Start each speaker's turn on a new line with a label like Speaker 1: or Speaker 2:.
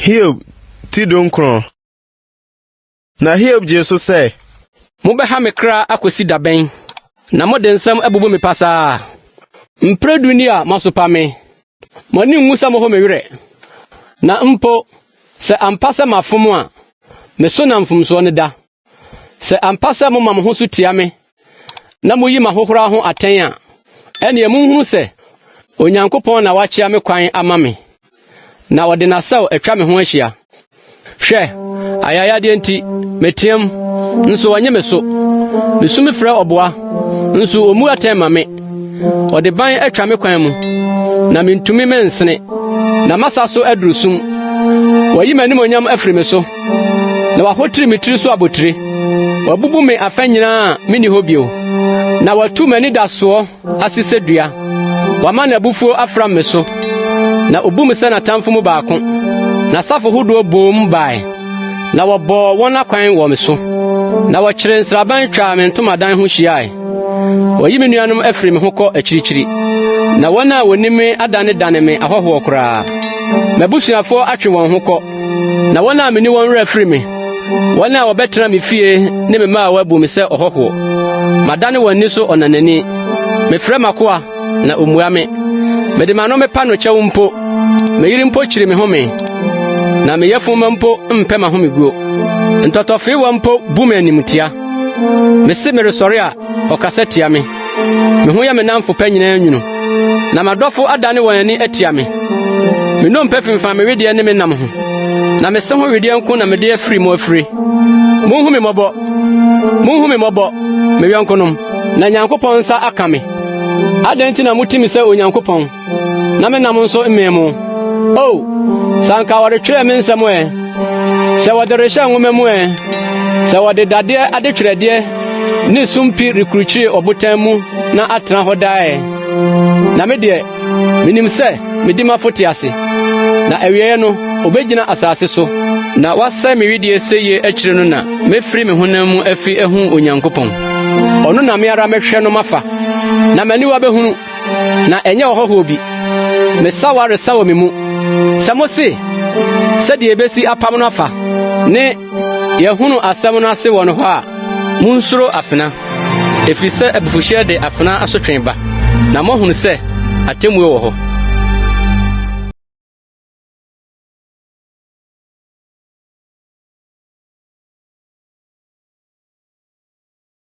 Speaker 1: Hiob ti dunkron. Na Hiob gyee so sɛ. Mobɛha me
Speaker 2: kra akosi da bɛn? Na mode nsɛm abubu me pasaa. Mpere du ni a moasopa me. Mo ani nwu sɛ moho me werɛ. Na mpo, sɛ ampa sɛ mafom a, me so na mfomsoɔ no da. Sɛ ampa sɛ moma mo ho so tia me na muyi m'ahohora ho atɛn a, ɛnneɛ monhunu sɛ Onyankopɔn na wakyea me kwan ama me, na ɔde n'asau atwa me ho ahyia. Hwɛ, ayayadeɛ nti, meteam, nso ɔnye me so. Mesu mefrɛ ɔboa, nso ɔmmu atɛn ma me. Ɔde ban atwa me kwan mu, na mintumi mensene, na masa so aduru sum. Wayi m'animonyam afiri me so, na wahotiri me tiri so abotire. Wabubu me afã nyinaa a minni hɔ bio, na watu m'anidasoɔ ase sɛ dua. Wama n'abufuo afram me so, na obu me sɛ n'atamfo mu baako. N'asafo hodoɔ boom bae. Na wɔbɔɔ wɔn akwan wɔ me so, na wɔkyeree nsraban twaa me ntomadan ho hyiae. Wɔyi me nuanom afiri me ho kɔ akyirikyiri, na wɔn a wɔnim me adanedane me ahɔhoɔ koraa. M'abusuafoɔ atwe wɔn ho kɔ, na wɔn a mene wɔn werɛ afiri me. Wɔn a wɔbɛtena me fie ne me mmaawa bu me sɛ ɔhɔhoɔ. Madane wɔn ani so ɔnanani. Mefrɛ m'akoa Na ommua me. Mede m'ano mepa no kyɛw mpo. Me yere mpo kyiri me home. Na me yafumma mpo mpɛ m'ahomeguo. Ntɔtɔfeewa mpo bu me animtia. Mese meresɔre a, ɔkasa tia me. Me ho yɛ me nnamfo pɛ nyinaa nwunu. Na m'adɔfo adane wɔn ani atia me. Me nnompe fimfam me wedeɛ ne me nam ho. Na me se ho wedeɛ nko na mede afiri mo afire. Monhu me mmɔbɔ! Monhu me mmɔbɔ, me yɔnkonom, na Nyankopɔn nsa aka me. Adɛn nti na mote me sɛ Onyankopɔn, na me nam nso mmee mo? O, sɛ anka wɔretwerɛ me nsɛm ɛ, sɛ wɔde rehyɛ nwoma mu ɛ, sɛ wɔde dadeɛ adetwerɛdeɛ ne sumpii rekrukyire ɔbotan mu na atena hɔ daa ɛ! Na me deɛ, Minim sɛ me dimafo te ase, na awieeɛ no, obegyina asase so, na wasɛe me wedeɛ sɛ yie akyire no na mɛfiri me honam mu afi ahu Onyankopɔn. Ɔno na me ara mɛhwɛ no mafa, na m'aniwa bɛhunu, na ɛnyɛ ɔhɔhoɔ bi. Me sawa resa wɔ me mu, sɛ mose, Sɛdeɛ yɛbɛsi apam no afa ne Yɛhunu asɛm no ase wɔ no hɔ a, munsuro afena, ɛfiri sɛ abufuhyeɛ de afena asotwe ba, na moahunu sɛ atemmuo wɔ hɔ.